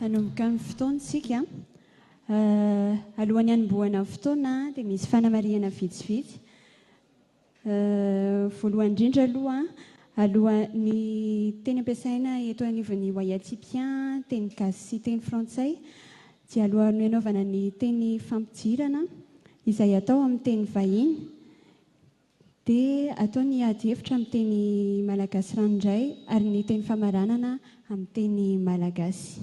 Hanomboka amin'ny fotoana isika. Alohan'ny hanombohana ny fotoana dia misy fanamarihana vitsivitsy. Voalohany indrindra aloha, aloha, ny teny ampiasaina eto anivon'ny Wayatipià, teny gasy sy teny frantsay, dia alohan'ny hanaovana ny teny fampidirana izay atao amin'ny teny vahiny dia atao ny ady hevitra amin'ny teny malagasy ranoray ary ny teny famaranana amin'ny teny malagasy.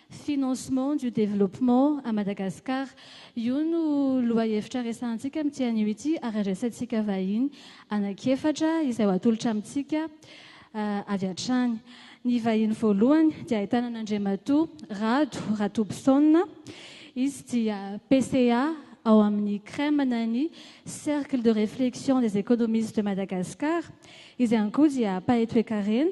Financement du développement à Madagascar. Io no lohahevitra resahantsika amin'ity anio ity ary andraisantsika vahiny anankiefatra izay ho atolotra amintsika avy hatrany. Ny vahiny voalohany dia ahitana an'Andriamatoa Rado Ratobison. Izy dia PCA ao amin'ny CREM na ny Cercle de réflexion des économistes de Madagascar. Izy ihany koa dia mpahay toekarena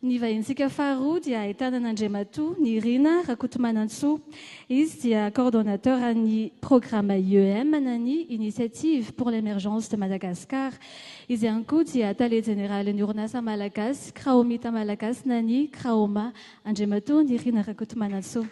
Ny vahinintsika faharoa dia ahitana an'Andriamatoa Nirina Rakotomanantsoa. Izy dia coordonnateur an'ny programme IEM na ny Initiative pour l'Emergence de Madagascar. Izy ihany koa dia tale jeneralin'ny orinasa malagasy Kraomita Malagasy na ny Kraoma. Andriamatoa Nirina Rakotomanantsoa.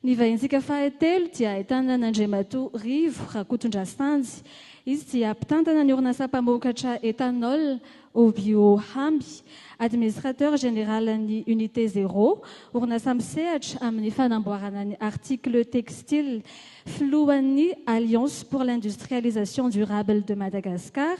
Ny vahintsika fahatelo dia ahitana an'Andriamatoa Rivo Rakotondrasanjy. Izy dia mpitantana ny orinasa mpamokatra ethanol Obio Hamby, administrateur général ny Unité Zéro, orinasa misehatra amin'ny fanamboarana ny articles textiles, filohan'ny Alliance pour l'industrialisation durable de Madagascar,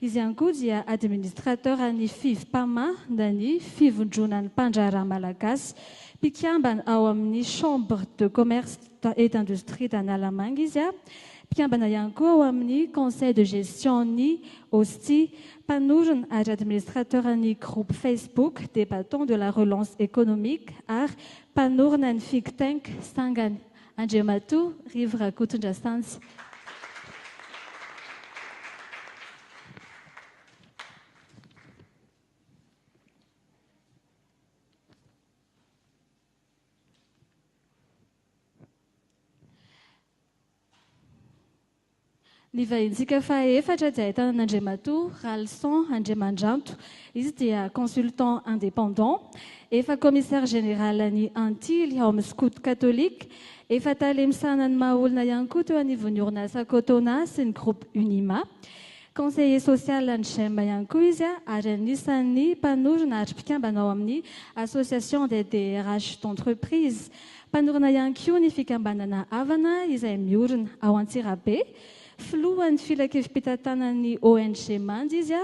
Izy ihany koa dia administrateur an'ny Fivpama na ny Fivondronan'ny Mpandraharaha Malagasy. Mpikambana ao amin'ny Chambre de Commerce et d'Industrie d'Analamanga izy. Mpikambana ihany koa ao amin'ny Conseil de Gestion-n'ny OSTI. Mpanorina ary administrateur ny groupe Facebook des Battants de la Relance Economique ary mpanorina ny Figtank sangany. Andriamatoa Rivo Rakotondrasanjy. Ny vahintsika faha efatra dia ahitana an'Andriamatoa Ralison Andriamandranto. Izy dia consultant indépendant, efa commissaire général an'ny Antily ao amin'ny Scouts Catholiques, efa tale misahana ny maha olona ihany koa teo anivon'ny orinasa Cotona sy ny groupe Unima. Conseiller social an'ny Gem ihany koa izy ary anisan'ny mpanorina ary mpikambana ao amin'ny Association des DRH d'entreprise Mpanorina ihany koa ny fikambanana Avana izay miorina ao Antsirabe. Filohan'ny filankevim-pitantanan'ny ONG Manja izy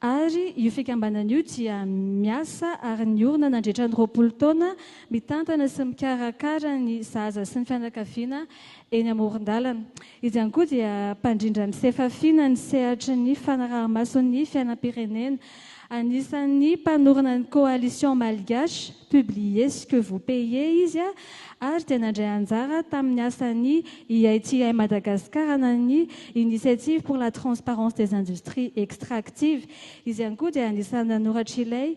ary io fikambanana io dia miasa ary niorina nandritra ny roapolo taona mitantana sy mikarakara ny zaza sy ny fianakaviana eny amoron-dalana. Izy ihany koa dia mpandrindra ny sefafiana ny sehatry ny fanaraha-maso ny fiainam-pirenena. Anisan'ny mpanorina ny Coalition Malgache, Publiez ce que vous payez izy ary dia nandray anjara tamin'ny asan'ny IITI Madagascar na ny Initiative pour la Transparence des Industries Extractives. Izy ihany koa dia anisan'ny nanoratr'ilay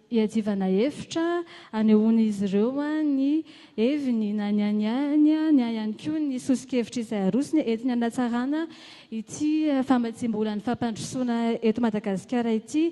Iadivana hevitra, anehoan'izy ireo ny heviny na ny an'ny ainy na ihany koa ny soso-kevitra izay arosony entina hanatsarana ity famatsiam-bolan'ny fampandrosoana eto Madagasikara ity.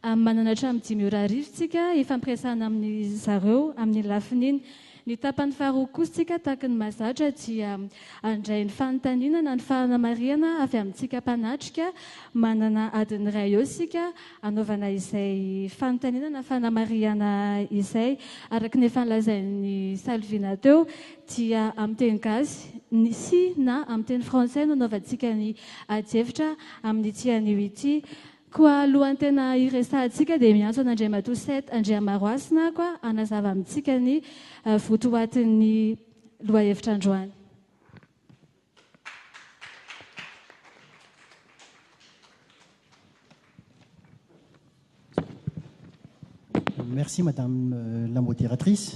Manana hatramin'ny dimy ora arivo isika hifampiresahana amin'izy ireo amin'ny lafiny iny. Ny tapany faharoa kosa tsika tahaky ny mazatra dia handray ny fanontaniana na ny fanamarihana avy amintsika mpanatrika. Manana adiny iray eo isika hanaovana izay fanontaniana na fanamarihana izay. Araky ny efa nolazain'i Salvina teo dia amin'ny teny gasy sy na amin'ny teny frantsay no hanaovantsika ny adihevitra amin'ity anio ity. Koa alohan'ny tena hiresahantsika dia miantso an'Andriamatoa Seth Andriamaroasina aho koa hanazava amintsika ny votoatin'ny lohahevitra androany. Merci madame la modératrice.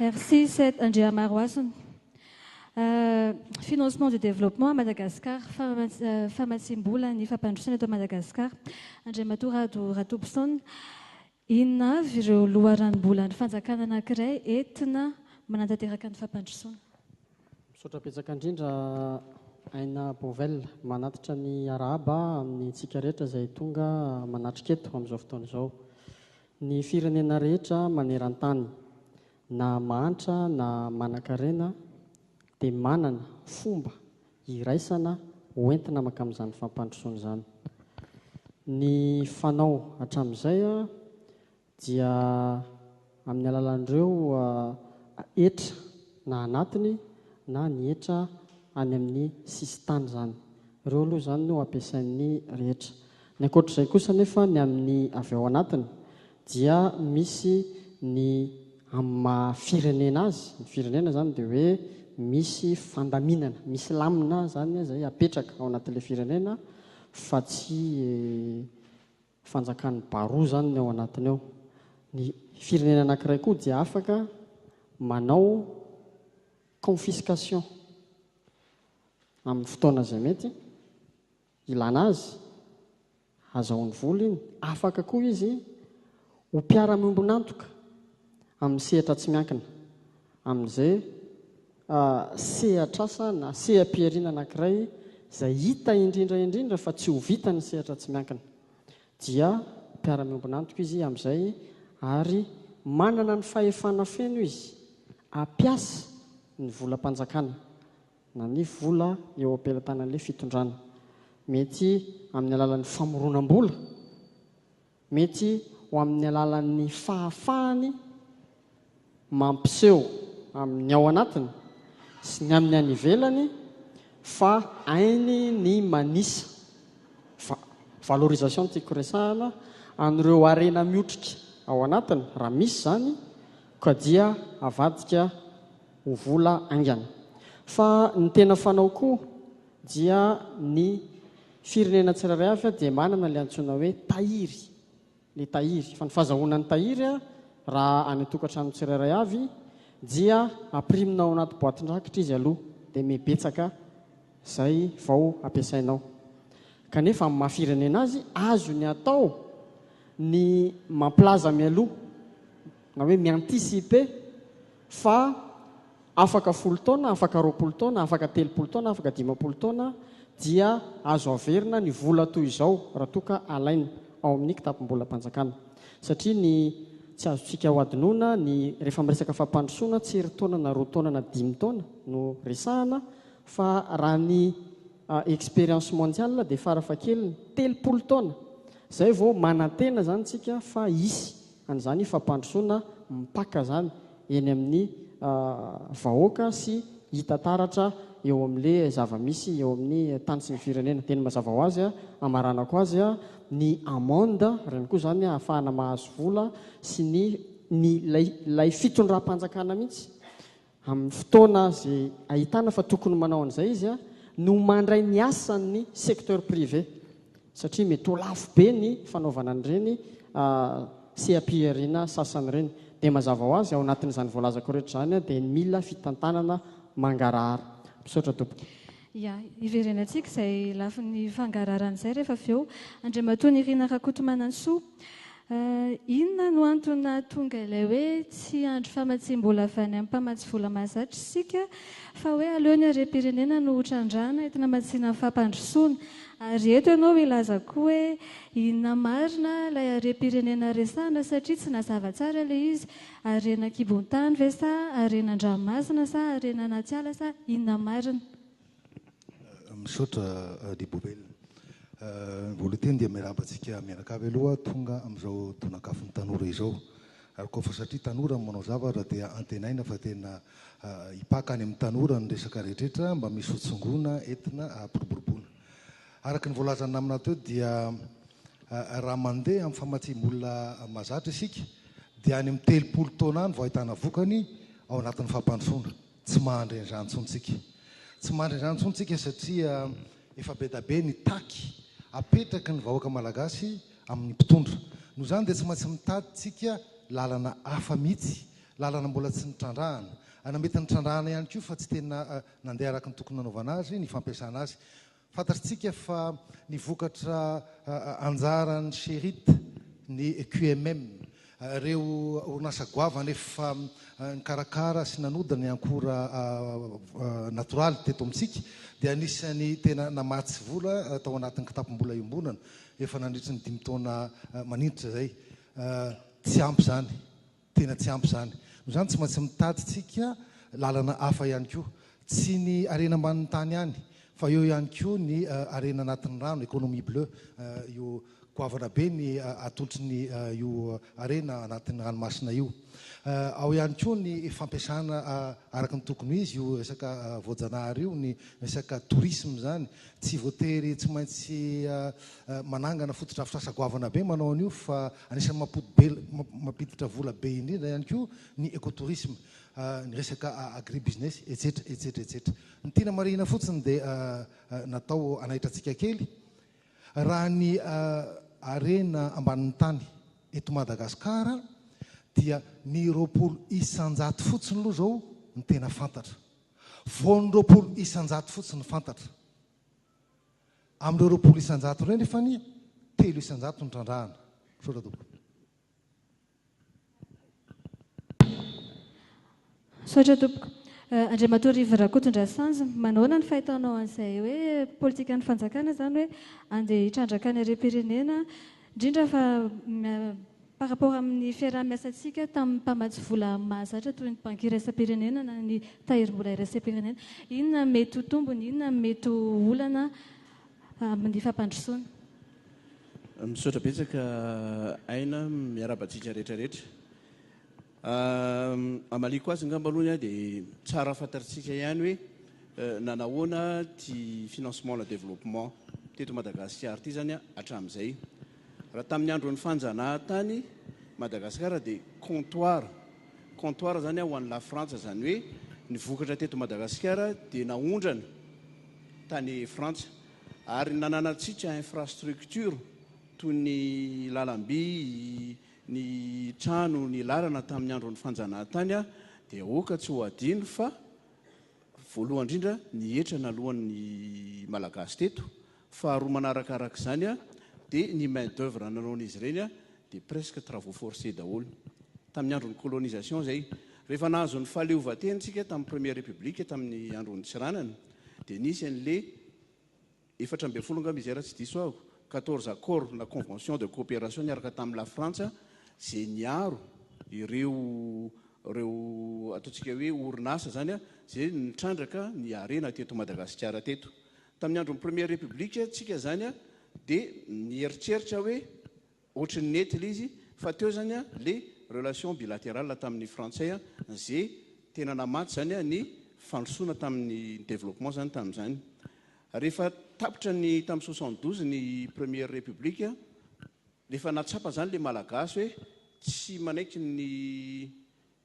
Merci Seth Andriamarohasina. Euh, financement du développement à Madagascar, euh, famatsiam-bola ny fampandrosoana eto Madagascar. Andriamatoa Rado Ratobison, inona avy ireo loharanom-bolan'ny fanjakana anankiray entina manatanteraka ny fampandrosoana? Misaotra betsaka indrindra Aina Bovel manatitra ny arahaba amin'ny antsika rehetra izay tonga manatrika eto amin'izao fotoana izao. Ny firenena rehetra maneran-tany, na mahantra na manan-karena, dia manana fomba iraisana hoentina mankamin'izany fampandrosoana izany. Ny fanao hatramin'izay dia amin'ny alalan'ireo hetra na anatiny na ny hetra any amin'ny sisintany izany. Ireo aloha izany no ampiasain'ny rehetra. Ny ankoatr'izay kosa anefa ny amin'ny avy ao anatiny dia misy ny amin'ny maha firenena azy, ny firenena izany dia hoe misy fandaminana, misy lamina izany izay apetraka ao anatin'ilay firenena fa tsy fanjakan'ny baroa izany ny ao anatiny ao. Ny firenena anankiray koa dia afaka manao confiscation amin'ny fotoana izay mety ilana azy, hazahoany vola iny. Afaka koa izy ho mpiara-miombon'antoka amin'ny sehatra tsy miankina. amin'izay sehatr'asa na seha-pihariana anankiray izay hita indrindra indrindra fa tsy ho vitan'ny sehatra tsy miankina, dia mpiara-miombon'antoka izy amin'izay ary manana ny fahefana feno izy hampiasa ny volam-panjakana na ny vola eo am-pelatanan'ilay fitondrana, mety amin'ny alalan'ny famoronam-bola. Mety ho amin'ny alalan'ny fahafahany mampiseho amin'ny ao anatiny sy ny amin'ny any ivelany fa hainy ny manisa, va, valorisation no tiako resahana, an'ireo harena miotrika ao anatiny, raha misy izany, ka dia avadika ho vola haingana. Fa ny tena fanao koa dia ny. Firenena tsirairay avy dia manana ilay antsoina hoe tahiry, ny tahiry. Fa ny fazahoana ny tahiry raha any an-tokantrano tsirairay avy dia ampirimina ao anaty boatin-drakitra izy aloha, dia mibetsaka izay vao ampiasainao. Kanefa amin'ny maha firenena azy, azony atao ny mampilaza mialoha. na hoe mi-anticiper fa afaka folo taona, afaka roapolo taona, afaka telopolo taona, afaka dimampolo taona dia azo averina ny vola toy izao raha toa ka alaina ao amin'ny kitapom-bolam-panjakana. Satria ny tsy azontsika hohadinoina ny rehefa miresaka fampandrosoana tsy iry taona na roa taona na dimy taona no resahana fa raha ny expérience mondiale dia fara fahakeliny telopolo taona izay vao manantena izany isika fa hisy an'izany fampandrosoana mipaka izany eny amin'ny vahoaka sy hita taratra eo amin'ilay zava-misy eo amin'ny tany sy ny firenena. Dia ny mazava ho azy, hamaranako azy, ny amende, ireny koa izany hahafahana mahazo vola sy ny ny ilay ilay fitondram-panjakana mihitsy amin'ny fotoana izay ahitana fa tokony manao an'izay izy no mandray ny asan'ny secteur privé satria mety ho lafo be ny fanaovana an'ireny seha-pihariana sasany ireny. Dia mazava ho azy, ao anatin'izany voalazako rehetra izany dia mila fitantanana mangarahara. Misaotra tompoko. Ia, hiverenantsika izay lafiny fangararana izay rehefa avy eo. Andriamatoa Nirina Rakotomanantsoa, inona no antony nahatonga ilay hoe tsy hiandry famatsiam-bola avy any amin'ny mpamatsy vola mahazatra isika fa hoe aleo ny harem-pirenena no ho trandrahana entina hamatsiana ny fampandrosoana? Ary eto ianao hilaza koa hoe inona marina ilay harem-pirenena resahana satria tsy nazava tsara ilay izy Harena an-kibon-tany ve sa harena an-dranomasina sa harena anaty ala sa inona marina? Misaotra Adibobel. Voalohany teny dia miarahaba antsika mianakavy aloha tonga amin'izao tonakafon'ny tanora izao. Ary koa fa satria tanora no manao zavatra dia antenaina fa tena hipaka any amin'ny tanora ny resaka rehetra rehetra mba misy hotsongoina, entina hampiroboroboana. Araka ny voalazan'ny namana teo dia raha mandeha amin'ny famatsiam-bola mahazatra isika dia any amin'ny telopolo taona any vao ahitana vokany ao anatin'ny fampandrosoana. Tsy mahandry an'izany intsony isika. Tsy mahandry an'izany intsony isika satria efa be dia be ny taky apetraky ny vahoaka malagasy amin'ny mpitondra. Noho izany dia tsy maintsy mitady isika lalana hafa mihitsy, lalana mbola tsy nitrandrahana. Na mety nitrandrahana ihany koa fa tsy tena Nandeha araka ny tokony nanaovana azy ny fampiasana azy. Fantatrtsika fa ny vokatra anjaran'ny Sherit ny QMM, ireo orinasa goavana efa nikarakara sy nanodina ny ankora natoraly teto amintsika dia anisan'ny tena namatsy vola tao anatin'ny kitapom-bola iombonana efa nandritry ny dimy taona maninitra izay. Tsy ampy izany. Tena tsy ampy izany. Noho izany, tsy maintsy mitadintsika lalana hafa ihany koa. Tsy ny harena ambanin'ny tany ihany, fa eo ihany koa ny harena anatin'ny rano, économie bleue. Io goavana be ny atolotry io harena anatin'ny ranomasina io. Ao ihany koa ny fampiasana araka ny tokony ho izy io resaka voajanahary io, ny resaka tourisme izany. Tsy voatery tsy maintsy manangana fotodrafitrasa goavana be manao an'io fa Anisan'ny mampodibela, mampiditra vola be indrindra ihany koa ny ecotourisme, ny resaka agribusiness, etsetra, etsetra, etsetra. Ny tiana marihina fotsiny dia natao hanaitra antsika kely raha ny harena ambanin'ny tany eto Madagasikara dia ny roapolo isan-jato fotsiny aloha izao ny tena fantatra. Vao ny roapolo isan-jato fotsiny fantatra. Amin'ireo roapolo isan-jato ireo anefa anie telo isan-jato no trandrahana. Misaotra tompoko. Misaotra tompoko. Andriamatoa Rivo Rakotondrasanjy, manahoana ny fahitanao an'izay hoe politikan'ny fanjakana izany hoe andeha hitrandraka ny harem-pirenena indrindra fa Par rapport amin'ny fiaraha-miasantsika tamin'ny mpamatsy vola mahazatra toy ny Banky Iraisam-pirenena na ny Tahirimbola Iraisam-pirenena, inona mety ho tombony, inona ny mety ho olana amin'ny fampandrosoana? Misaotra betsaka Aina, miarahaba antsika rehetra rehetra. Hamaliako azy angamba aloha ny ahy dia tsara fantatritsika ihany hoe nanahoana ity financement à la développement teto Madagasikara ity izany hatramin'izay. Raha tamin'ny andron'ny fanjanahantany Madagasikara dia comptoir, comptoir zany ho an'i Lafrantsa, zany hoe ny vokatra teto Madagasikara dia naondrana tany Frantsa ary nananantsika infrastructure toy ny lalamby, ny trano, ny lalana tamin'ny andron'ny fanjanahantany dia aoka tsy ho adino fa voalohany indrindra ny hetra naloan'ny Malagasy teto Faharoa manaraka araka izany dia ny main d'oeuvre nanaon'izy ireny dia presque travaux forcés daholo. Tamin'ny andron'ny colonisation izay. Rehefa nahazo ny fahaleovantena isika tamin'ny première république tamin'ny andron'i Tsiranana dia nisy an'ilay efatra ambin'ny folo angamba izay raha tsy diso aho, quatorze accords na conventions de coopération niaraka tamin'i La Frantsa izay niaro ireo ireo ataontsika hoe orinasa izany izay nitrandraka ny harena teto Madagasikara teto. Tamin'ny andron'ny Première République tsika zany dia nieritreritra hoe ohatry ny nety le izy fa teo zany le relation bilaterale tamin'ny frantsay ze tena namatsy zany ny fandrosoana tamin'ny développement zany tamin'izany. Rehefa tapitra ny tamin'ny soixante douze ny Première République rehefa nahatsapa zany le Malagasy hoe tsy manaiky ny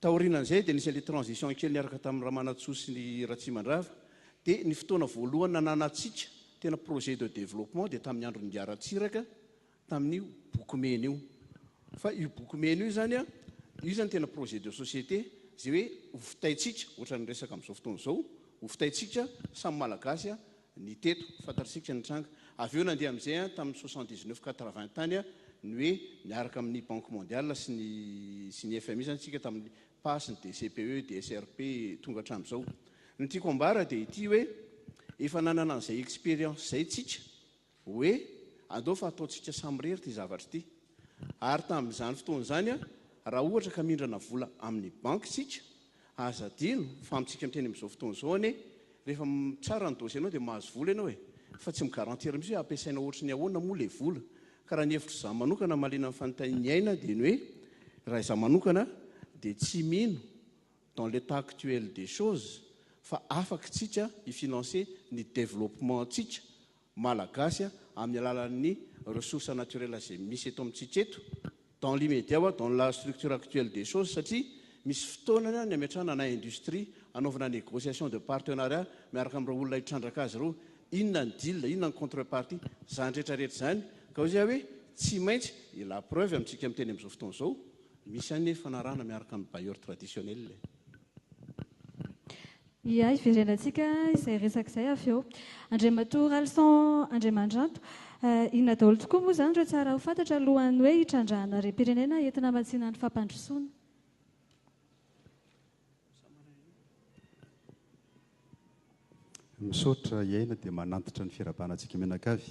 Taorianan'izay dia nisy an'ilay transition kely niaraka tamin'i Ramanantsoa sy ny Ratsimandrava dia ny fotoana voalohany nananantsika tena projet de développement dia tamin'ny andron'ingahy Ratsiraka tamin'io boky mena io fa io boky mena io zany io zany tena projet de société zay hoe ho fitaintsika ohatran'ny resaka amin'izao fotoana izao ho fitaintsika samy malagasy ny teto, fantatsika ny tranga. Avy eo nandeha amin'izay an, tamin'ny soixante dix neuf quatre vingt tany an, ny hoe niaraka amin'ny Banque Mondiale sy ny sy ny FMI izany isika tamin'ny pas sy ny DCPE, DSRP tonga hatramin'izao. Ny tiako ambara dia ity hoe efa nanana an'izay expérience izay isika Hoe, Andao fa ataontsika samirery ity zavatra ity. Ary tamin'izany fotoana izany, raha ohatra ka mindrana vola amin'ny banky isika, aza adino fa amintsika miteny amin'izao fotoana izao anie, rehefa mitsara ny dossier-nao dia mahazo vola ianao e! Fa tsy mi-garantir mihitsy hoe hampiasaina ohatry ny ahoana moa ilay vola. Ka raha ny hevitr'izaho manokana mahaliana ny fanontain'ny aina dia ny hoe, raha izaho manokana dia tsy mino dans l'état actuel des choses fa afaka isika hi-financer ny développement-ntsika Malagasy amin'ny alalan'ny ressources naturelles izay misy eto amintsika eto, dans l'immédiat wa dans la structure actuelle des choses, satria misy fotoana ny ametrahana na industrie hanaovana négociation de partenariat miaraka amin'ireo olona hitrandraka azy ireo, inona ny deal, inona ny contrepartie, izany rehetra rehetra izany, ka hoy aho hoe tsy maintsy, et la preuve amintsika miteny amin'izao fotoana izao, misy an'ny fanarahana miaraka amin'ny bailleurs traditionnels. Ia, hiverenantsika izay resaka izay avy eo. Andriamatoa Ralison Andriamandranto, inona daholo tokoa moa izany ireo tsara ho fantatra alohan'ny hoe hitrandrahana harem-pirenena entina hamatsiana ny fampandrosoana? Misaotra, hiaina dia manantitra ny firahabana antsika mianakavy.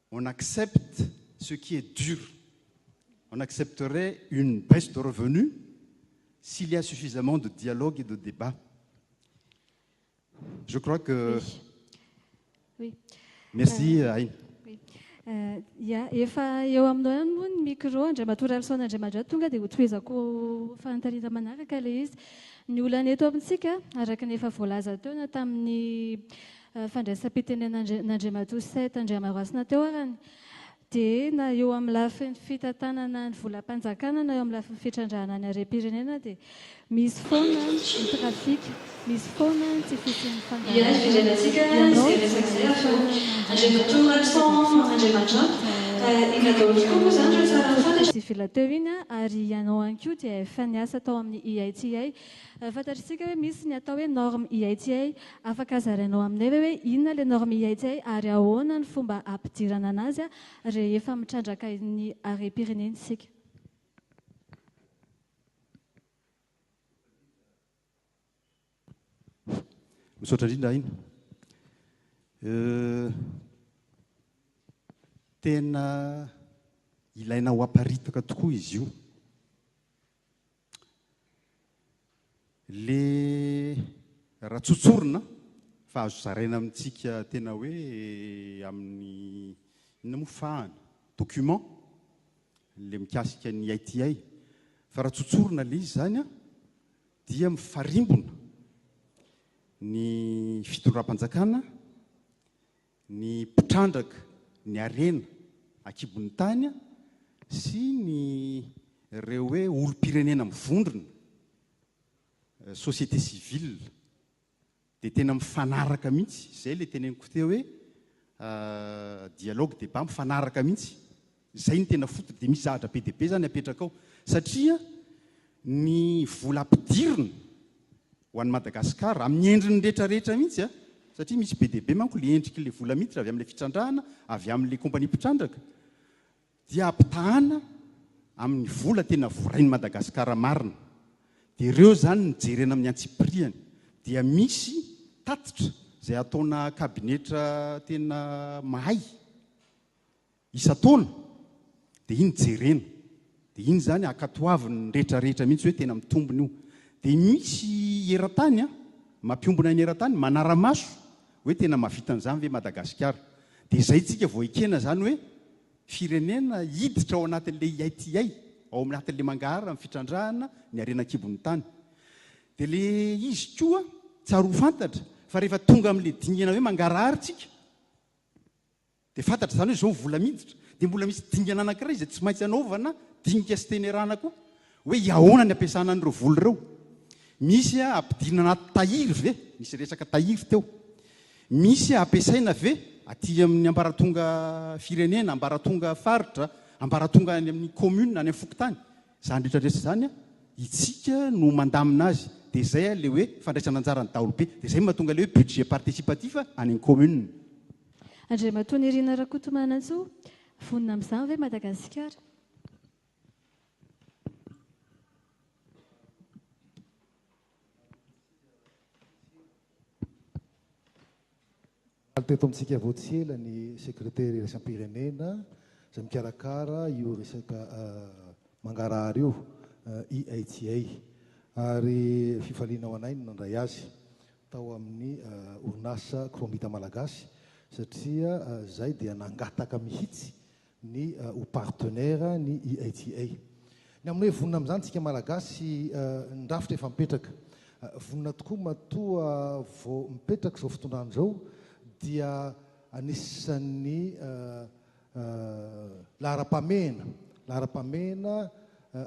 on accepte ce qui est dur, on accepterait une baisse de revenus s'il y a suffisamment de dialogue et de débat. Je crois que... Oui. Merci, euh, Aïn. Oui. Euh, ya, efa eo aminao ihany moa ny micro andriamatoa ralison andriamadra tonga dia hotohizako fanontanina manaraka ilay izy ny olana eto amintsika araka ny efa voalaza teo na tamin'ny fandraisam-pitenenan'Andriamatoa Seth Andriamarasina teo arany dia na eo amin'ny lafiny fitantanana ny volam-panjakana na eo amin'ny lafiny fitrandrahana ny harem-pirenena dia misy foana ny trafic, misy foana ny tsy fisian'ny fandaharanana. Ianao dia ahafahana mandrandrana ny fitrandrahana ny sivila teo iny ary ianao ihany koa dia efa niasa tao amin'ny IITA Fantatr'isika hoe misy ny atao hoe norme IHA. Afaka zarainao aminay ve hoe inona ilay norme IHA ary ahoana ny fomba hampidirana anazy rehefa mitrandraka ny harem-pirenena isika? Misaotra indrindra Aina. Tena ilaina ho aparitaka tokoa izy io. Le raha tsotsorina fa azo zaraina amintsika tena hoe amin'ny inona moa fahana? document le mikasika ny ITI fa raha tsotsorina le izy zany a dia mifarimbona ny fitondram-panjakana ny mpitrandraka ny harena ankibon'ny tany sy ny ireo hoe olom-pirenena mivondrona, société civile, dia tena mifanaraka mihitsy, izay ilay teneniko teo hoe dialogue, débat, mifanaraka mihitsy Izay no tena foot dia misy zahatra be dia be zany apetraka ao satria ny vola ampidirina ho an'i Madagascar amin'ny endriny rehetra rehetra mihitsy a, satria misy be dia be manko ilay endriky ilay vola miditra avy amin'ilay fitrandrahana avy amin'ilay compagnie mpitrandraka dia ampitahana amin'ny vola tena vorain'i Madagascar marina dia ireo zany no jerena amin'ny antsipiriany dia misy tatitra izay ataona kabinetra tena mahay. isan-taona dia iny jerena dia iny izany ankatoavin'ny retraretra mihitsy hoe tena mitombina io dia misy eran-tany an mampiombona ny eran-tany manara-maso hoe tena mahavita an'izany ve Madagasikara dia izay tsika vao ekena izany hoe firenena hiditra ao anatin'ilay ITI ao anatin'ilay mangaharan'ny fitrandrahana ny harena an-kibon'ny tany dia le izy koa tsary ho fantatra fa rehefa tonga amin'ilay dingana hoe mangarahara tsika Dia fantatra izany hoe izao vola miditra. Dia mbola misy dingana anankiray izay tsy maintsy anaovana dinika sy tenerana koa. Hoe iahoana ny ampiasana an'ireo vola ireo. Misy ampidirina anaty tahiry ve? Nisy resaka tahiry teo. Misy ampiasaina ve aty amin'ny ambaratonga firenena, ambaratonga faritra, ambaratonga any amin'ny commune, any amin'ny fokontany? Izany rehetra rehetra izany an, itsika no mandamina azy, dia izay ilay hoe fandraisana anjaran'ny daholobe, dia izay no mahatonga ilay hoe budget participatif any amin'ny commune. Andriamatoa Nirina Rakotomanantsoa, vonona amin'izany ve Madagasikara? Omaly teto amintsika vao tsy ela ny Sekretera Iraisam-pirenena izay mikarakara io resaka mangarahara io, IHCA, ary fifaliana ho anay ny nandray azy tao amin'ny orinasa Chromita Malagasy satria izay dia nangataka mihitsy ny ho partenaire ny IHA. Ny amin'ny hoe vonona amin'izany isika Malagasy, ny rafitra efa mipetraka. Vonona tokoa matoa vao mipetraka izao fitondrana izao dia anisan'ny laharam-pahamehana, laharam-pahamehana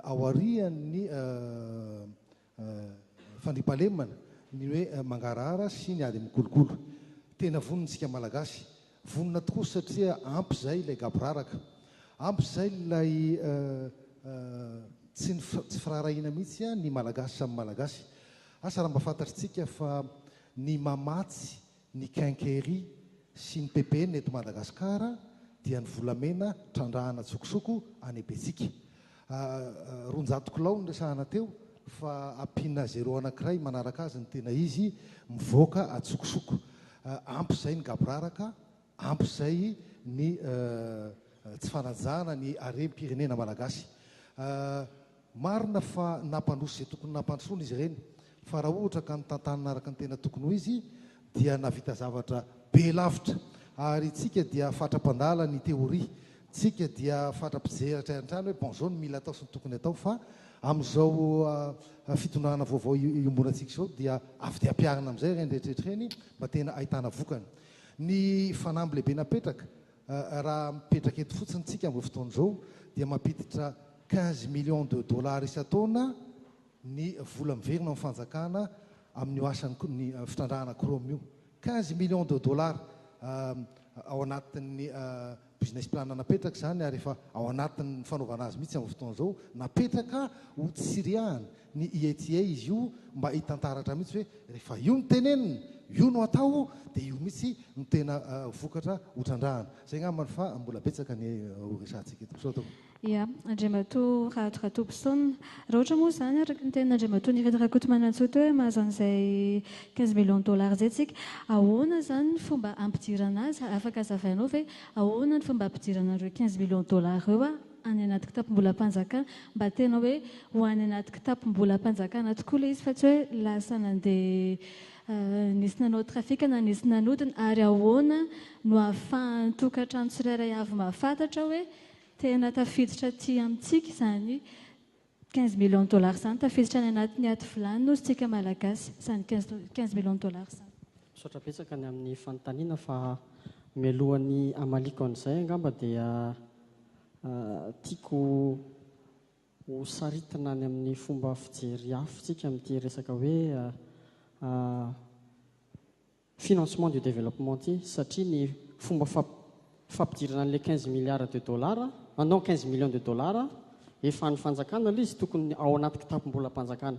aorian'ny Fandriampahalemana ny hoe mangarahara sy ny ady amin'ny kolikoly. Tena vonona isika Malagasy. Vonona tokoa satria ampy izay ilay gaboraraka. Ampy izay ilay tsy tsy firaharahiana mihitsy ny Malagasy samy Malagasy. Asa raha mba fantatritsika fa ny mamatsy Ny Quincaillerie sy ny PPN eto Madagasikara dia ny volamena trandrahana tsokosoko any Abetsika. Roanjato kilao no resahana teo fa ampiana zéro anankiray manaraka azy ny tena izy mivoaka an-tsokosoko. Ampy izay ny gaboraraka, ampy izay ny tsy fanajana ny harem-pirenena malagasy. Marina fa nampandroso izay tokony nampandrosoana izy ireny, fa raha ohatra ka notantanina araka ny tena tokony ho izy dia nahavita zavatra be lavitra. Ary isika dia fatra-mpandala ny teoria, isika dia fatra-pijery hatrany hatrany hoe bon zao no mila atao sy ny tokony atao fa amin'izao fitondrana vaovao iombonantsika izao dia avy dia ampiharina amin'izay ireny rehetra rehetra ireny mba tena ahitana vokany. Ny fanamby lehibe napetraka. Raha mipetraka eto fotsiny tsika amin'izao fotoana izao dia mampiditra quinze millions de dollars isan-taona ny vola miverina amin'ny fanjakana amin'io asan'ny fitrandrahana chrome io. Quinze millions de dollars ao anatin'ny business plan napetraka izany ary efa ao anatin'ny fanaovana azy mihitsy amin'izao fotoana izao, napetraka hotsirihahana. Ny IETIE izy io mba hitantaratra mihitsy hoe rehefa io no tenenina, io no atao dia io mihitsy no tena vokatra ho trandrahana. Izay angamba fa mbola betsaka ny ho resahantsika eto. Misaotra tompoko. Ia, Andriamatoa Rahato Ratobison. Raha ohatra moa izany, araka ny tenin'Andriamatoa Nirina Rakotomanantsoa teo hoe mahazo an'izay quinze millions de dollars izay isika, ahoana izany ny fomba hampidirana azy? Afaka hazavainao ve ahoana ny fomba hampidirana an'ireo quinze millions de dollars ireo? any anaty kitapom-bolam-panjakana, mba tena hoe ho any anaty kitapom-bolam-panjakana tokoa ilay izy fa tsy hoe lasa nandeha nisy nanao trafic na nisy nanodina, ary ahoana no ahafahan'ny tokantrano tsirairay avy mahafantatra hoe tena tafiditra aty amintsika izany Quinze millions de dollars zany tafiditra any anatiny ato vilany nosy tsika malagasy zany quinze millions de dollars zany. Misaotra betsaka ny amin'ny fanontaniana fa mialohan'ny hamaliako an'izay angamba dia tiako ho saritina any amin'ny fomba fijery hafa tsika amin'ity resaka hoe financement du développement ity satria ny fomba fampidirana an'ilay quinze milliards de dollars, ah non quinze millions de dollars efa an'ny fanjakana ilay izy tokony ao anaty kitapom-bolam-panjakana.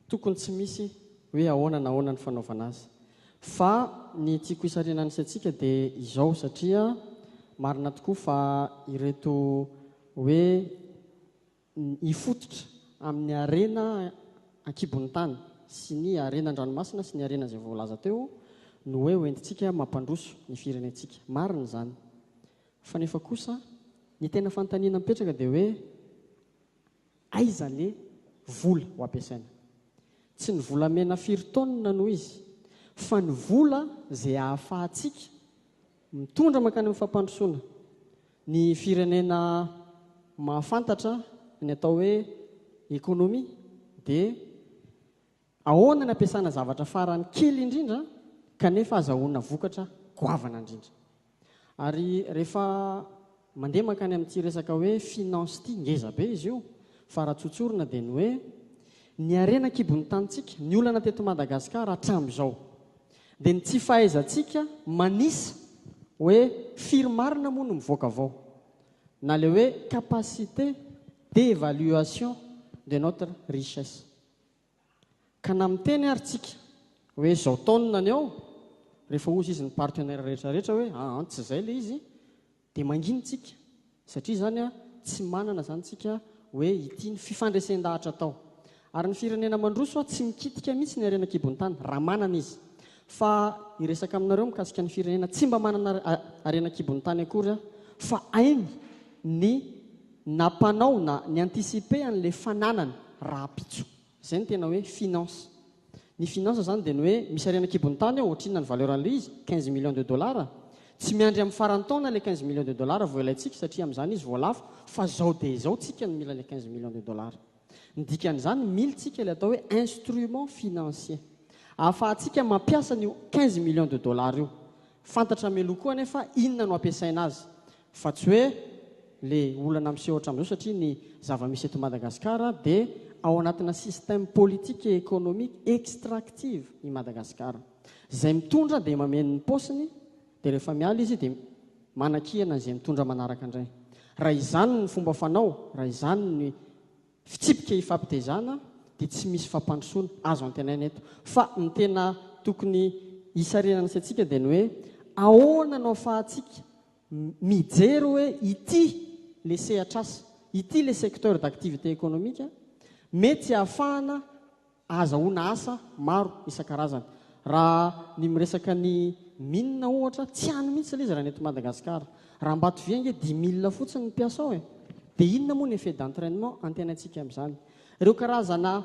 Tokony tsy misy hoe ahoana na ahoana ny fanaovana azy. Fa ny tiako hisarihana ny saintsika dia izao satria marina tokoa fa ireto hoe hifototra amin'ny harena an-kibon'ny tany sy ny harena an-dranomasina sy ny harena izay voalaza teo no hoe hoentintsika mampandroso ny firenentsika. Marina izany. Fa nefa kosa ny tena fanontaniana mipetraka dia hoe aiza le vola ho ampiasaina? Tsy ny volamena firy taonina no izy fa ny vola izay ahafahantsika Mitondra mankany amin'ny fampandrosoana ny firenena mahafantatra ny atao hoe économie dia ahoana ny ampiasana zavatra farany kely indrindra kanefa azahoana vokatra goavana indrindra. Ary rehefa Mandeha mankany amin'ity resaka hoe finance ity, ngeza be izy io, fa raha tsotsorina dia ny hoe, ny harena an-kibon'ny tanintsika, ny olana teto Madagasikara hatramin'izao, dia ny tsy fahaizantsika manisa hoe firy marina moa no mivoaka avao, na ilay hoe capacité d'évaluation de notre richesse. Ka na miteny ary tsika hoe izao taonina any ao, rehefa hozy izy ny partenaire rehetra rehetra hoe aan tsy izay le izy dia mangina tsika satria izany a tsy manana izany tsika hoe ity ny fifandresen-dahatra atao. Ary ny firenena mandroso a tsy mikitika mihitsy ny harena an-kibon'ny tany raha manana izy. Fa hiresaka aminareo mikasika ny firenena tsy mba manana harena an-kibon'ny tany akory aho fa hainy ny Nampanao na ni-anticiper an'ilay fananany rahampitso. Izay no tena hoe finance. Ny finance izany dia ny hoe misy harena an-kibon'ny tany ao, ohatrinona ny valeur an'ilay izy? Quinze millions de dollars. Tsy miandry amin'ny faran'ny taona ilay quinze millions de dollars vao ilaintsika satria amin'izany izy vao lafo, fa izao dia izao tsika no mila ilay quinze millions de dollars. Ny dikan'izany, mily tsika ilay atao hoe instrument financier. Ahafahantsika mampiasa an'io quinze millions de dollars io. Fantatra mialoha koa anefa inona no hampiasaina azy. Fa tsy hoe le olana miseho hatramin'izao satria ny zava-misy eto Madagascar dia ao anatina système politique et économique extractive i Madagascar. Izay mitondra dia mameno ny paosiny dia rehefa miala izy dia manakihana an'izay mitondra manaraka indray. Raha izany ny fomba fanao, raha izany ny fitsipika ifampitezana dia tsy misy fampandrosoana azo antenaina eto. Fa ny tena tokony hisarinana sy antsika dia ny hoe ahoana no afahantsika mijery hoe ity ilay sehatr'asa, ity ilay secteur d'activité économique mety tsy ahafahana ahazahoana asa maro isan-karazany. Raha ny miresaka ny mines ohatra, tsy any mihitsy ilay izy raha ny eto Madagasikara. Raha Ambatovia ange dimy mille fotsiny ny mpiasa ao e! Dia inona moa ny effet d'entrainement antenaintsika amin'izany? Ireo karazana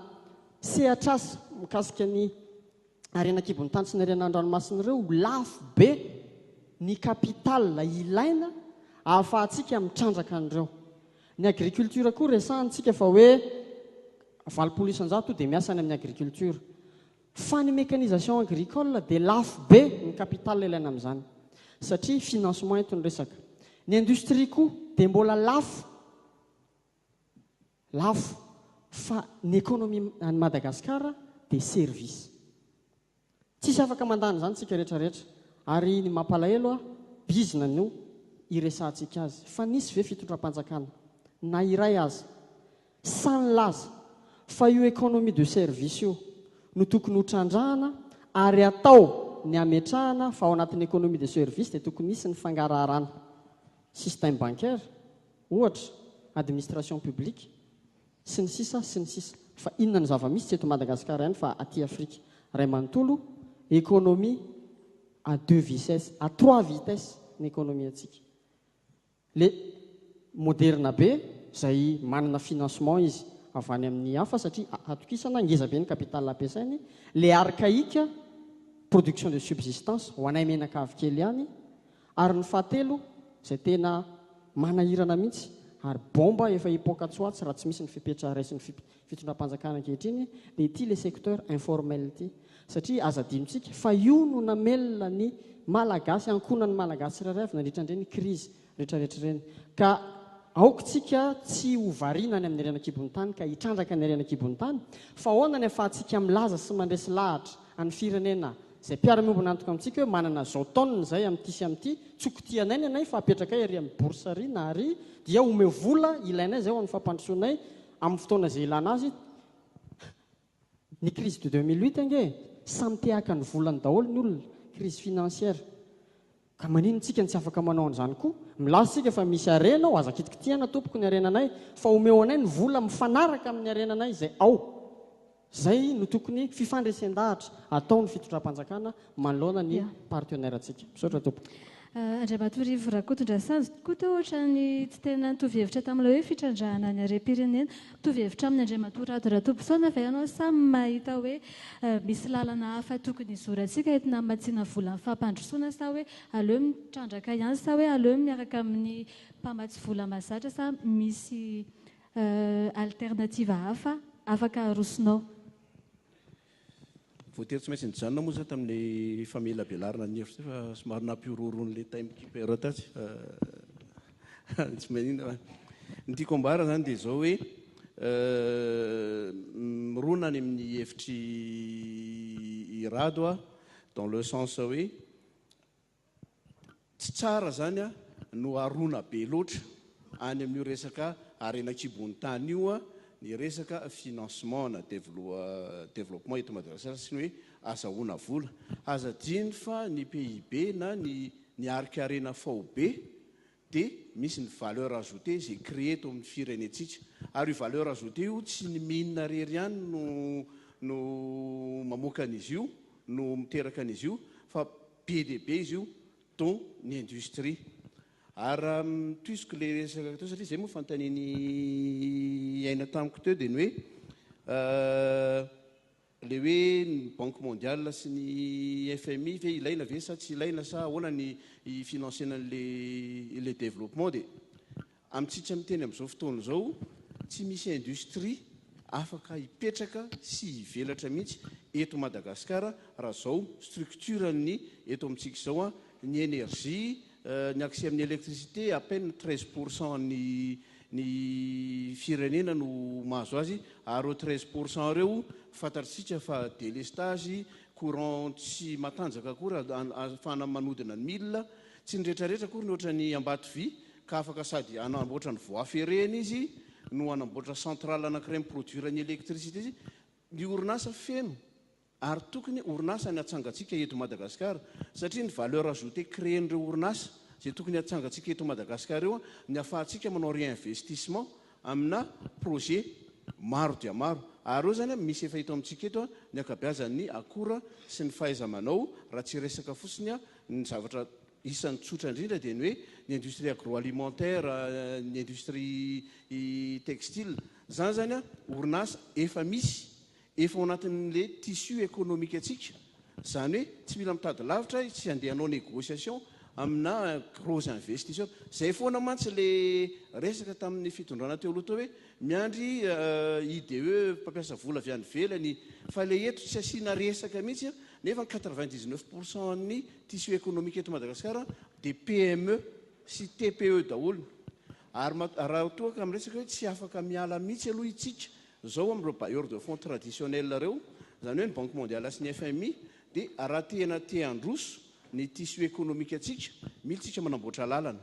sehatr'asa mikasika ny ary eny an-kibon'ny tany sy ny harena an-dranomasina ireo ho lafo be ny capital ilaina ahafahantsika mitrandraka an'ireo. Ny agriculture koa resahantsika fa hoe valopolo isan-jato dia miasa any amin'ny agriculture. Fa ny mécanisation agricole dia lafo be ny capital ilaina amin'izany satria financement eto ny resaka. Ny industrie koa dia mbola lafo. lafo fa ny economie any Madagascar dia service tsisy afaka mandany izany tsika rehetra rehetra ary ny mampalahelo a bizna no iresahantsika azy fa nisy ve fitondram-panjakana na iray aza sahy nilaza fa io economie de service io no tokony ho trandrahana ary atao ny hametrahana fa ao anatin'ny economie de service dia tokony hisy ny fangaraharana système bancaire ohatra, administration publique, sy ny sisa sy ny sisa. Fa inona ny zava-misy tsy eto Madagasikara ihany fa aty Afrika ray manontolo, économie à deux vicesses, à trois vitesses ny économie antsika. Le moderna be izay manana financement izy avy any amin'ny hafa satria atokisana, ngeza be ny capital ampiasainy, le archaïque, production de subsistance, ho anay menaka avy kely ihany, Ary ny fahatelo izay tena manahirana mihitsy ary bomba efa hipoaka tsoatsy raha tsy misy ny fepetra raisin'ny fitondram-panjakana ankehitriny dia ity le secteur informel ity satria aza adinontsika fa io no namelona ny malagasy ankonan'ny malagasy tsirairay avy nandritra an'ireny crise retraretra ireny ka aoka tsika tsy ho variana any amin'ny harena kibon'ny tany ka hitrandraka ny harena kibon'ny tany fa ahoana ny afahantsika milaza sy mandresy lahatra an'ny firenena Izay mpiara-miombon'antoka amintsika hoe manana izao taonina izay amin'ity sy amin'ity, tsoky tia anay ny anay fa apetrakay ary amin'ny bourse ary na ary dia omeo vola ilainay izay ho an'ny fampandrosoanay amin'ny fotoana izay ilana azy, ny crise de deux mille huit ange samy te haka ny volany daholo ny olona, crise financière. Ka maninn tsika no tsy afaka manao an'izany koa? Milaza tsika fa misy harena ao, aza kitikitihana tompoko ny harenanay, fa omeo anay ny vola mifanaraka amin'ny harenanay izay ao. Izay no tokony fifandresen-dahatra ataon'ny fitondram-panjakana manoloana ny partenaire ntsika. Misaotra tompoko. Andriamatorivo Rakotondrasanjy koa toa ohatran'ny tsy tena nitovy hevitra tamin'ilay hoe fitrandrahana ny harem-pirenena. Mitovy hevitra aminy Andriamatoa Rado Ratobisona ve ianao sa mahita hoe misy lalana hafa tokony hizorantsika entina hamatsiana volan'ny fampandrosoana sa hoe aleo mitrandraka ihany sa hoe aleo miaraka amin'ny mpamatsy vola mazatra sa misy alternative hafa afaka arosonao? Voatery tsy maintsy nijanona moa za tamin'ilay famelabelarana ny hevitra fa somary nampihorohoro an'ilay time keeper tatsy fa tsy maninona fa ny tiako ambara zany dia izao hoe mirona any amin'ny hevitry i Rado aho dans le sens hoe Tsy tsara zany a, no arona be loatra any amin'io resaka harena an-kibon'ny tany io a, ny resaka financement na developpement eto Madagasikara sy ny hoe azahoana vola. Aza adino fa ny PIB na ny ny harik'harena faobe, dia misy ny valeur ajoutée izay créer eto amin'ny firenentsika. Ary io valeur ajoutée io tsy ny mine irery ihany no no mamoaka an'izy io, no miteraka an'izy io, fa be dia be izy io, dont ny industrie. Ary raha mitohiziko ilay resaka teo, satria izay moa fanontanian'i Aina tamiko teo, dia ny hoe Ilay hoe ny banque mondiale sy ny FMI ve ilaina ve sa tsy ilaina sa ahoana ny hi-financena an'ilay développement dia amintsika miteny amin'izao fotoana izao tsy misy industrie afaka hipetraka sy hivelatra mihitsy eto Madagasikara raha izao structure-ny eto amintsika izao ny énergie ny accès amin'ny électricité à peine treize pour cent ny ny firenena no mahazo azy ary ireo treize pour cent ireo fantatrtsika fa delestage, courant tsy matanjaka akory ahafahana manodina ny mille, tsy ny retraretra akory ny ohatran'i Ambatovy ka afaka sady hanamboatra ny voie ferrée-ny izy no hanamboatra centrale anankiray mi-produire ny électricité izy, ny orinasa feno Ary tokony orinasa ny atsangantsika eto Madagascar satria ny valeur ajoutée créen'ireo orinasa izay tokony atsangantsika eto Madagascar eo ny afahantsika manao réinvestissement amina projet maro dia maro ary eo zany misy efa eto amintsika eto ny akabeazan'ny akora sy ny fahaizamanao raha tsy resaka fotsiny ny zavatra isan'ny tsotra indrindra dia ny hoe ny industrie agroalimentaire ny industrie textile zany zany orinasa efa misy Efa ao anatin'le tissu ekonomikantsika, zany hoe tsy mila mitady lavitra, tsy andeha hanao négociation amina gros investisseurs. Zay foana mantsy le resaka tamin'ny fitondrana teo aloha teo hoe miandry IDE mpampiasa vola avy any ivelany, fa le eto tsy asiana resaka mihitsy an, nefa ny quatre vingt dix neuf pour cent an'ny tissu ekonomika eto Madagasikara dia PME sy TPE daholo, ary raha toa ka miresaka hoe tsy afaka miala mihitsy aloha itsika Izao amin'ireo bailleurs de fonds traditionnels ireo, izany hoe ny Banque Mondiale sy ny fmi, dia raha tena te handroso ny tissu économique antsika, mila isika manamboatra lalana,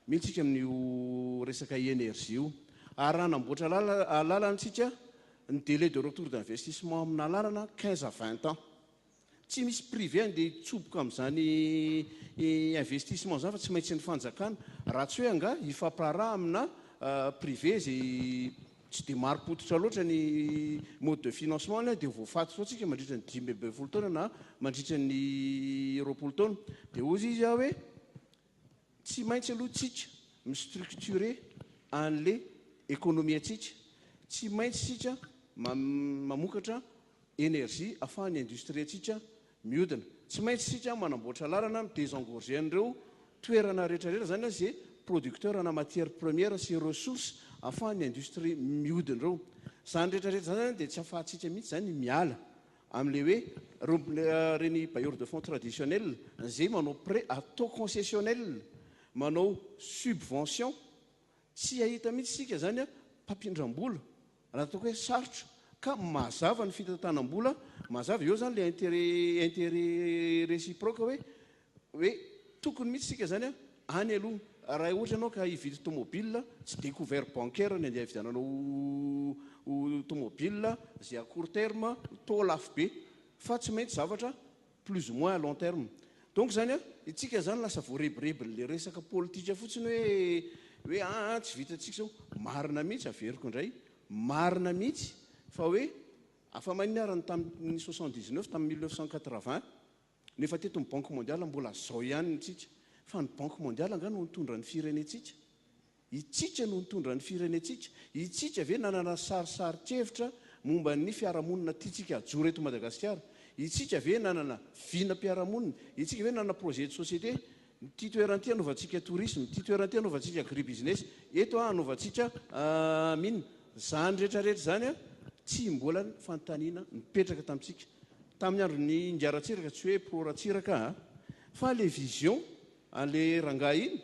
mila isika amin'io resaka énergie io. Ary raha hanamboatra lalana isika, ny délai de retour d'investissement amina lalana, quinze à vingt ans. Tsy misy privé andeha hitsoboka amin'izany investissement izany fa tsy maintsy ny fanjakana. Raha tsy hoe angaha hifampiraharaha amina privé izay tsy dia marim-pototra loatra ny mode de financement any dia voafaty foana tsika mandritra ny dimy ambin'ny folo taona na mandritra ny roapolo taona. Dia hoy izy aho hoe. Tsy maintsy aloha tsika mi-structure anle economie tsika, tsy maintsy tsika mamokatra energie afahan'ny industrie tsika miodina, tsy maintsy tsika manamboatra lalana mi-desengorger an'ireo toerana rehetra rehetra zany ze producteur ana matière première sy ressource afahan'ny industrie miodina ireo, zany rehetra rehetra zany zany de tsy afahantsika mihitsy zany miala. Amin'ilay hoe rompin reny bailleurs de fonds traditionnels izay manao prêt à taux concessionnel, manao subvention, tsy hahita mihitsy isika izany mpampindram-bola raha ataoko hoe sarotra ka mazava ny fitantanam-bola mazava. Eo izany ilay intérêt intérêt réciproque hoe hoe tokony mihitsy isika izany any aloha raha ohatra ianao ka hividy tomobil tsy dia couvert bancaire ny andeha hividiananao ho tomobil izay à court terme toa lafo be fa tsy maintsy zavatra plus ou moins à long terme donc izany itsika izany lasa voarebirebin'ilay resaka politika fotsiny hoe hoe ah, ah tsy vitantsika izao marina mihitsy averiko indray marina mihitsy fa hoe afa-mainona ary ny tamin'ny soixante dix neuf tamin'ny mille neuf cent quatre vingt Nefa teto ny banque mondiale mbola zao ihany ny tsika. Fa ny banque mondiale angaha no nitondra ny firenentsika? Itsika no nitondra ny firenentsika? Itsika ve nanana sarisarin-kevitra momba ny fiarahamonina tiantsika hajoro eto Madagasikara? Itsika ve nanana vinam-piarahamonina? Itsika ve nanana projet de société Ity toerana ity hanaovantsika tourisme, ity toerana ity hanaovantsika agribusiness, eto hanaovantsika mine. Izany rehetra rehetra izany tsy mbola fanontaniana nipetraka tamintsika. Tamin'ny andron'ny Ingahy Ratsiraka, tsy hoe pro Ratsiraka aho, fa ilay vision an'ilay rangahy iny,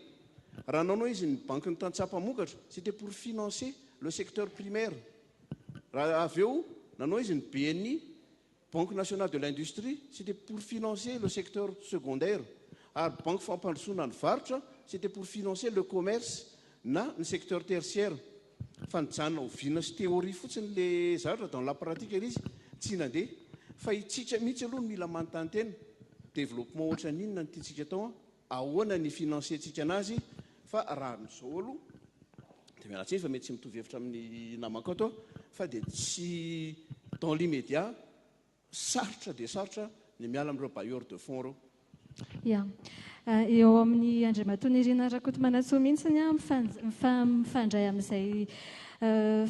raha nanao izy ny bankin'ny tantsaha mpamokatra, c'était pour financer le secteur primaire. Raha avy eo nanao izy ny BNI, Banque nationale de l'industrie, c'était pour financer le secteur secondaire, ary Banky fampandrosoana ny varotra, c'était pour financer le commerce na ny secteur tertiaire. Fa nijanona oviana sy théorie fotsiny ilay zavatra dans la pratique ilay izy tsy nandeha. Fa itsika mihitsy aloha no mila manontany tena, développement ohatran'inona no tiantsika atao an? ahoana ny financer-tsika anazy fa raha amin'izao aloha dia miala tsiny fa mety tsy mitovy hevitra amin'ny namako ato aho fa dia tsy dans l'immédiat sarotra dia sarotra ny miala amin'ireo bailleurs de fonds ireo. Ya. Eo amin'i Andriamatoa Nirina Rakotomanantsoa mihitsy ny ahy mifandray amin'izay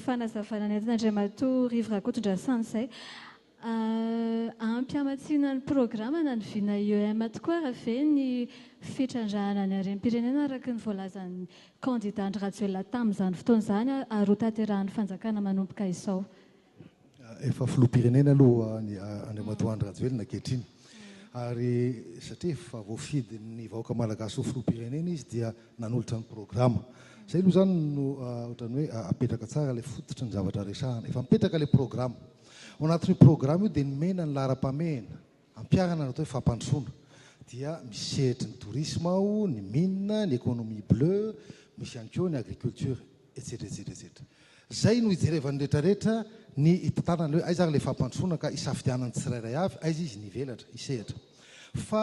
fanazavana nentin'Andriamatoa Rivo Rakotondrasana izay. Ampy hamatsiana ny programana ny vina IEM tokoa ary ve ny fitrandrahana ny harem-pirenena araka ny voalazan'ny kandida Andry Rajoelina tamin'izany fotoana izany ary ho tanterahan'ny fanjakana manomboka izao? Efa filoham-pirenena aloha Andriamatoa Andry Rajoelina ankehitriny ary satria efa voafidin'ny vahoaka malagasy ho filoham-pirenena izy dia nanolotra ny programa. Izay aloha izany no ohatran'ny hoe apetraka tsara ilay fototry ny zavatra resahana. Efa mipetraka ilay programa. Ao anatin'io programa io dia nomena ny laharam-pahamehana ampiharana ny atao hoe fampandrosoana. Dia misy sehatry ny tourisme ao, ny mines, ny économie bleue, misy ihany koa ny agriculture, etsetra etsetra etsetra. Izay no hijerevan'ny rehetrarehetra ny hitantanana ny hoe aiza ary ilay fampandrosoana ka hisafidianan'ny tsirairay avy aiza izy ny hivelatra, hisehatra. Fa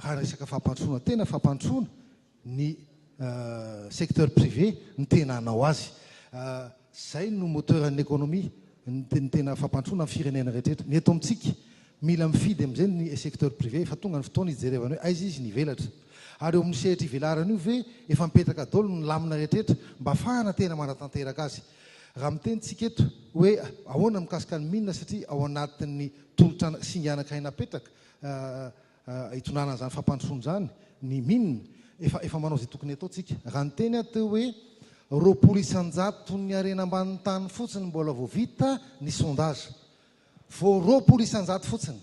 Raha resaka fampandrosoana tena fampandrosoana ny secteur privé no tena hanao azy. Izay no moteur'nny économie, ny tena fampandrosoana ny firenena rehetra rehetra. Ny eto amintsika mila mifidy amin'izay ny secteur privé, efa tonga ny fotoana hijerevana hoe aiza izy ny hivelatra. Ary eo amin'ny sehatra ivelarany io ve efa mipetraka daholo ny lamina rehetra rehetra mba hafahana tena manatanteraka azy. Raha miteny tsika eto hoe ahoana mikasika ny mines satria ao anatin'ny tolotra singa anankiray napetraka hitondrana an'izany fampandrosoana izany ny min. Efa efa manao izay tokony hatao tsika. Raha niteny aho teo hoe roapolo isan-jaton'ny harena ambanin'ny tany fotsiny mbola vao vita ny sondage. Vao roapolo isan-jato fotsiny.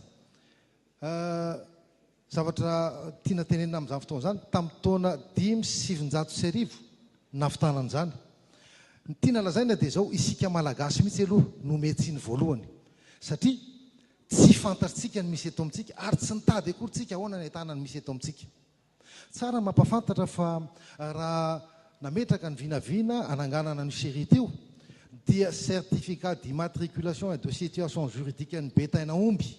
Zavatra tiana tenenina amin'izany fotoana izany, tamin'ny taona dimy sy sivinjato sy arivo nahavitana an'izany. Ny tiana lazaina dia izao, isika Malagasy mihitsy aloha no miha-tsiny voalohany. Satria Tsy fantatrtsika ny misy eto amintsika ary tsy nitady akory tsika ahoana ny ahitana ny misy eto amintsika. Tsara ny mampafantatra fa raha nametraka ny vinavina ananganana an'io Sherite io dia Certificat d'Immatriculation et de Situation Juridique an'i Betaina Omby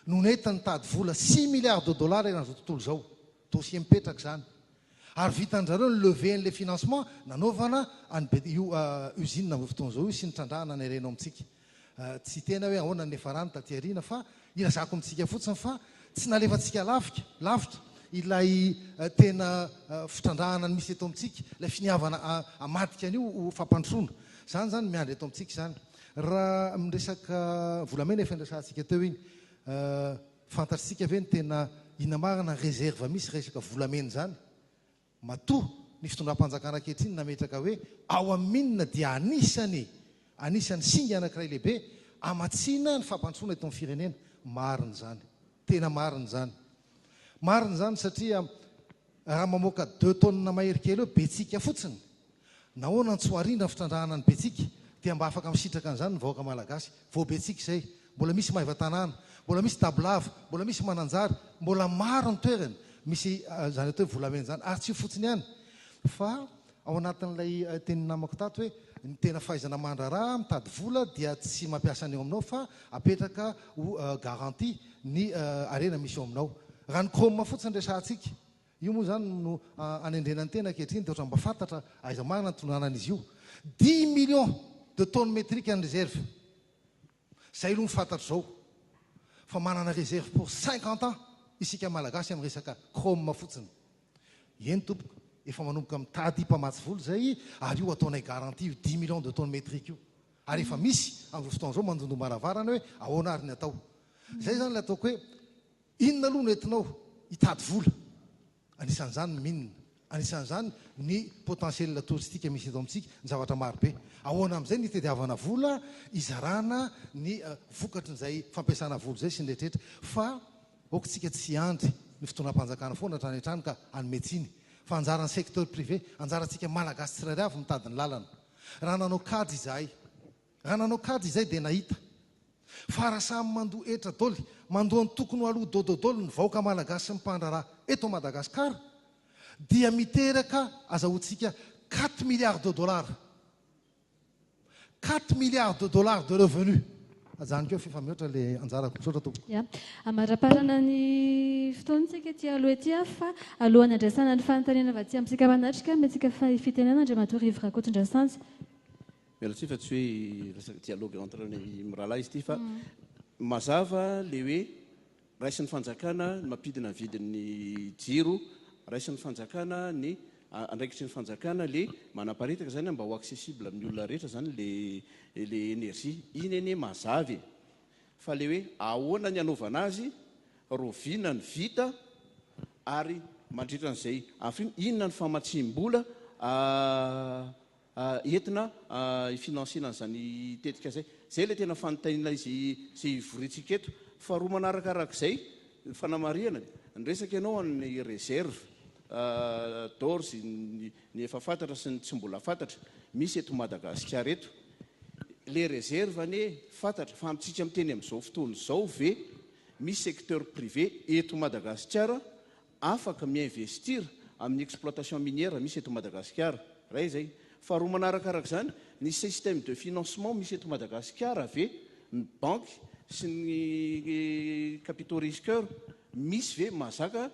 no nety nitady vola six milliards de dollars eran'izao tontolo izao. Dossier mipetraka izany. Ary vitan-drizareo ny levée an'ilay financement nanaovana an'i be, io usine amin'izao fotoana izao io sy ny trandrahana nireno amintsika. Tsy tena hoe ahoana ny niafarany taty aoriana fa ilazako amintsika fotsiny fa tsy nalefantsika lafika, lavitra, ilay tena fitrandrahana ny misy eto amintsika, ilay finiavana hamadika an'io ho fampandrosoana. Izany izany miandry eto amintsika izany. Raha amin'ny resaka volamena efa niresahantsika teo iny. Fantatsika ve ny tena inamarana reserve misy resaka volamena izany? Matoa ny fitondram-panjakana ankehitriny nametraka hoe ao amin'ny mine dia anisany anisany singa anankiray lehibe hamatsiana ny fampandrosoana eto amin'ny firenena. Marina izany. Tena marina izany. Marina izany satria Raha mamoaka deux tonnes mahery kely eo Betsiaka fotsiny, nahoana no tsy ho arindra ny fitrandrahana an'i Betsiaka? Dia mba afaka misitraka an'izany ny vahoaka Malagasy. Vao Betsiaka izay, mbola misy Maivatanàna, mbola misy Dabolava, mbola misy Mananjary, mbola maro ny toerana misy izany atao hoe volamena izany. Ary tsy io fotsiny ihany fa Ao anatin'ilay tenin'ny namako tato hoe ny tena fahaizana mandraharaha mitady vola dia tsy mampiasa ny eo aminao fa apetraka ho garantie ny harena misy eo aminao. Raha ny chrome fotsiny resahantsika, io moa izany no anendrena ny tena ankehitriny dia ohatran'ny mba fantatra aiza marina ny tononanan'izy io. Dimy millions de tonnes métriques ny reserve. Zay aloha ny fantatro zao fa manana réserve pour cinquante ans isika malagasy amin'ny resaka chrome fotsiny. Eny tompoko, efa manomboka mitady mpamatsy vola zay ary io ataonay garantie io dix millions de tonnes métriques io. Ary efa misy amin'izao fotoana izao mandondom-baravarana hoe ahoana ary ny atao. Zay zany ilay ataoko hoe inona aloha no entinao hitady vola. Anisan'izany ny mines, anisan'izany ny potentiel touristique misy eto amintsika, ny zavatra maro be. Ahoana amin'izay ny hitadiavana vola hizarana ny vokatry izay fampiasana vola izay sy ny rehetrarehetra fa aokitsika tsy hiandry ny fitondram-panjakana foana hatrany hatrany ka hanome tsiny fa anjaran'ny secteur privé, anjarantsika Malagasy tsirairay avy mitady ny lalana. Raha nanao kajy izahay. Raha nanao kajy izay dia nahita. Fa raha samy mandoa hetra doly, mandoa antokony ho aloha dododoly ny vahoaka malagasy sy ny mpandraharaha eto Madagascar dia miteraka azahoantsika quatre milliards de dollars. Quatre milliards de dollars de revenu. Ajanoko eo f'efa mihoatra le anjarako. Misaotra tompoko. Ya. Amaraparana ny fotoana tsika ety aloha ety a. Fa alohan'ny handraisana ny fanontaniana avy aty amintsika manatrika, omentsika fahefitenana Andriamatoa Rivo Rakotondrasanjy. Miala tsiny fa tsy hoe resaka dialogue entre ny mirahalahy izy ity fa mazava le hoe raisin'ny fanjakana ny mampidina ny vidin'ny jiro, raisin'ny fanjakana ny andraikitry ny fanjakana le manaparitaka zany mba ho accessible amin'ny olona rehetra zany le le énergie. Iny anie mazava e! Fa le hoe ahoana ny hanaovana azy, roviana ny vita ary mandritra an'izay afriana, inona ny famatsiam-bola entina hi-financer-na an'izany tetika izay. Izay ilay tena fanontaniana izay hivoriantsika eto. Faharoa manaraka araka izay, ny fanamarihana, niresaka ianao an'ny réserve d'ores ny efa fantatra sy ny tsy mbola fantatra misy eto Madagasikara eto. Ilay réserve anie fantatra fa amintsika miteny amin'izao fotoana izao ve misy secteur privé eto Madagasikara afaka mi-investir amin'ny exploitation minière misy eto Madagasikara. Iray izay. Faharoa manaraka araka izany, ny système de financement misy eto Madagasikara ve, ny banky sy ny capitaux risqueurs misy ve mahazaka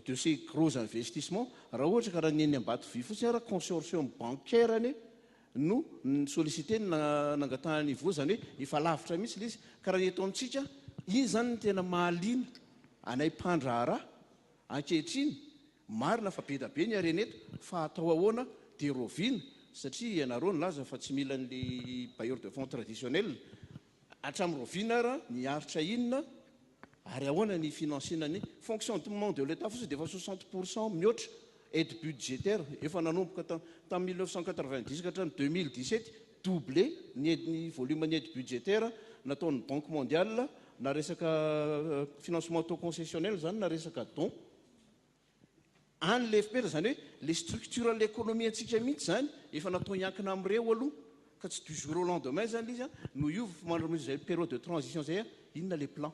de ces gros investissements raha ohatra ka raha ny eny Ambatovy fotsiny ara, consortium bancaire anie no ni-solliciter ny nangatahany hivoha, izany hoe efa lavitra mihitsy ilay izy, ka raha ny eto amintsika, iny izany no tena mahaliana anay mpandraharaha ankehitriny, marina fa be dia be ny harena eto fa atao ahoana dia roviana satria ianareo nilaza fa tsy mila an'ilay bailleur de fonds traditionnel, Hatramin'ny rahoviana ary ny aritra inona ary ahoana ny finansiana ny fonctionnement de l'Etat fotsiny dia efa soixante pour cent mihoatra aide budgétaire efa nanomboka tamin'ny mille neuf cent quatre-vingt-dix ka hatramin'ny deux mille dix-sept doublé ny aide ny volume ny aide budgétaire nataon'ny banque mondiale na resaka financement taux concessionnel izany na resaka don any ilay fpera, izany hoe ilay structure an'ilay economie antsika mihitsy izany efa natao hiankina amin'ireo aloha ka tsy du jour au lendemain izany ilay izy an, no hiova fa mandritra izay période de transition izay an, inona ilay plan.